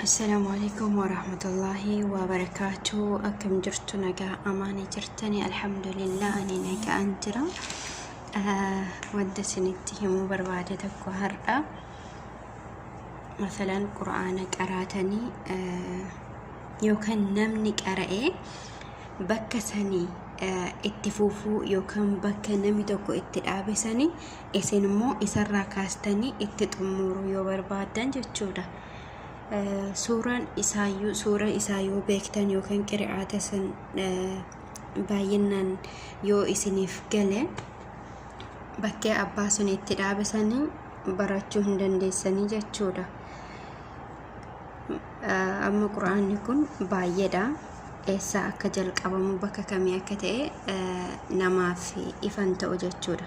Assalaamu alaikum warahmatullaahi wabarakaatu akkam jirtu nagaa amaanii jirtani alhamdulillah ani nagaan jira Ah, wanta isinitti himuu barbaade tokko har'a masalan qur'aana qaraatanii ah, yookaan namni qara'ee bakka sanii eh, itti fufuu yookaan bakka namni tokko itti dhaabe sanii isin immoo isarraa kaastanii itti xummuuru yoo barbaaddan jechuudha. Suuraan isaayyuu suura isaa yoo beektan yookaan qira'aata san baay'inaan yoo isiniif gale bakkee abbaa sun itti dhaabe sanii barachuu hin dandeessanii jechuudha. Amma quraanni kun baay'eedha. Eessaa akka jalqabamu bakka kamii akka ta'e namaaf ifan ta'u jechuudha.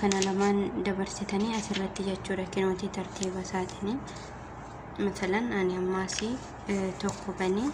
kana lamaan dabarsitanii asirratti jechuudha kinootii tartiiba isaatini matalan ani ammaasi tokko banii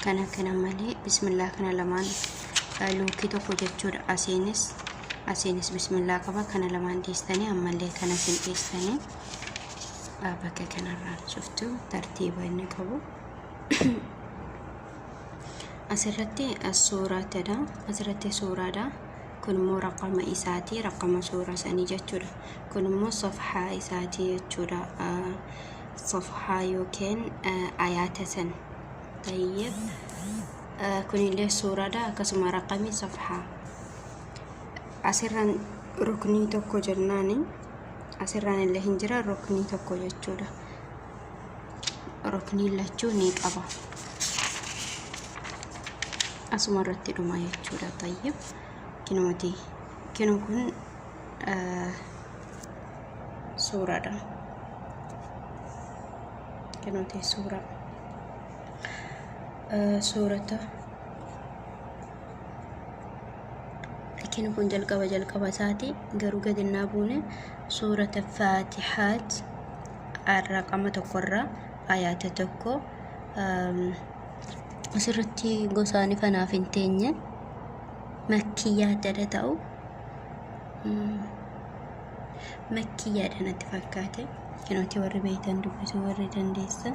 kana kana malee bismillaa kana lamaan luukii tokko jechuudha asiinis asiinis bismillaa qaba kana lamaan dhiistanii ammallee kana sin dhiistanii bakka kanarraan cuftu tartiiba inni qabu asirratti suuraatidha asirratti suuraadha kun immoo raqama isaati raqama suura sanii jechuudha kun immoo safhaa isaati jechuudha safhaa yookiin ayaata san tayyib kunillee suuraadha akkasuma raqami safhaa asirraan ruknii tokko jennaani asirraan illee hin jira ruknii tokko jechuudha rukniin lachuu ni qaba asuma irratti dhuma jechuudha tayyib kinooti kino kun suuraadha kinooti suura suurata Rakkinni kun jalqaba jalqaba isaati garuu gadi naa buune suurata faatihaat raqama tokkorraa ayaata tokko asirratti gosaani fanaaf hin teenye makkiyyaa dada ta'u makkiyyaadha natti fakkaate kinooti warri beektan dubbisuu warri dandeessan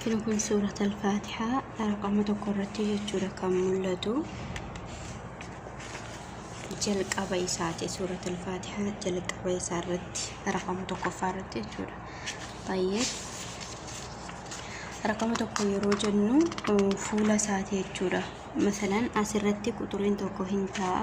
Kini kun suurat al-faatihaa raqama tokko irratti jechuudha kan mul'atu jalqaba isaati suurat al-faatihaa jalqaba isaa irratti raqama tokkoffaa irratti jechuudha baay'ee raqama tokko yeroo jennu fuula isaati jechuudha masalan asirratti quxuriin tokko hin ta'a.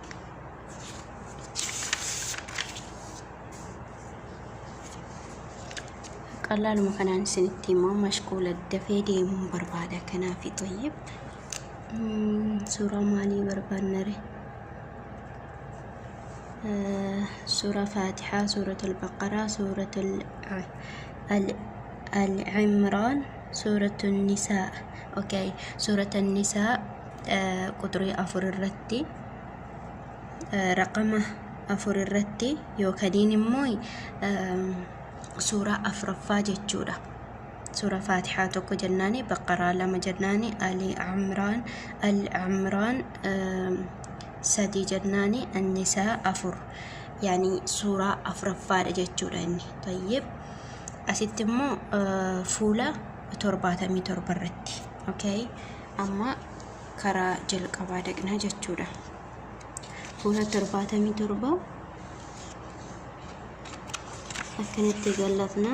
qalaaluma kanaan isinitti himaa mashquula dafee deemuun barbaada kanaafi xayyib suuraa maalii barbaannare suuraa faatixaa suuratul baqaraa suuratul al-imraan suuratul nisaa okay suuratul nisaa quxurii afur irratti raqama afur irratti yookiin immoo suuraa afraffaa jechuudha. Suuraa Faatihaa tokko jennaani, Baqaraa lama jennaani, Ali Amraan, Al Amraan sadii jennaani, Annisaa afur. Yaani suuraa afraffaadha jechuudha inni. Tayyib. Asitti immoo fuula torbaatamii torba irratti. Okay. Amma karaa jalqabaa dhaqna jechuudha. Fuula 77 akkanatti gallafna.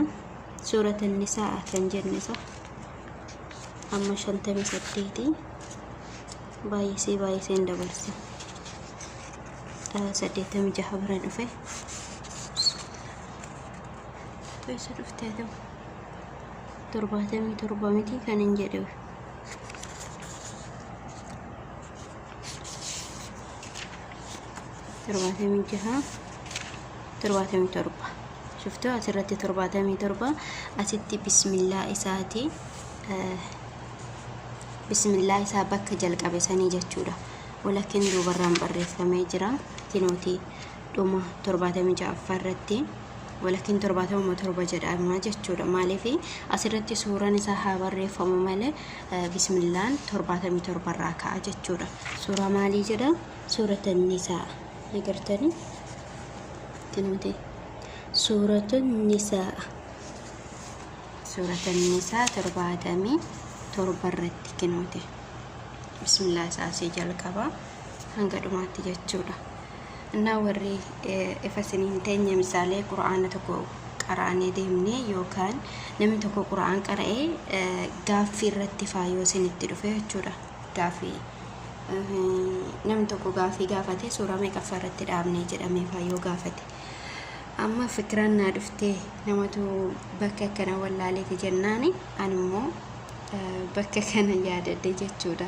Suurata nisaa kan jenne isa amma 58 baay'isee baay'iseen dabarse. 86 bira dhufe. Keessa dhuftee ta'u. 77 miti kan hin jedhe. torbaatamii jaha torbaatamii torba shuftu asirratti torbaatamii torba asitti bismillaa isaati bismillaa isaa bakka jalqabe sanii jechuudha walakin duubarraan barreeffamee jira tinooti dhuma 76ffaa irratti walakkiin 77 jedhama jechuudha. Maaliif asirratti suuraan isaa haa barreeffamu malee bismillaan 77 irraa ka'a jechuudha. Suuraa maalii jedha? Suurata nisaa. Agartanii? Tinooti. Suuratu nisaa. Suurata nisaa 77 irratti kinooti. Bismillah isaa asii jalqaba hanga dhumaatti jechuudha. Innaa warri ifa isin hin teenye misaalee Qur'aana tokko qaraanee deemne yookaan namni tokko Qur'aan qara'ee gaaffii irratti faa yoo isin itti dhufe jechuudha. Gaaffii namni tokko gaaffii gaafate suuraa meeqaffaa irratti dhaabne jedhamee faa yoo gaafate. Amma fikiraan naa dhuftee namatu bakka akkana wallaaleeti jennaani animmoo bakka kana yaadadhe jechuudha.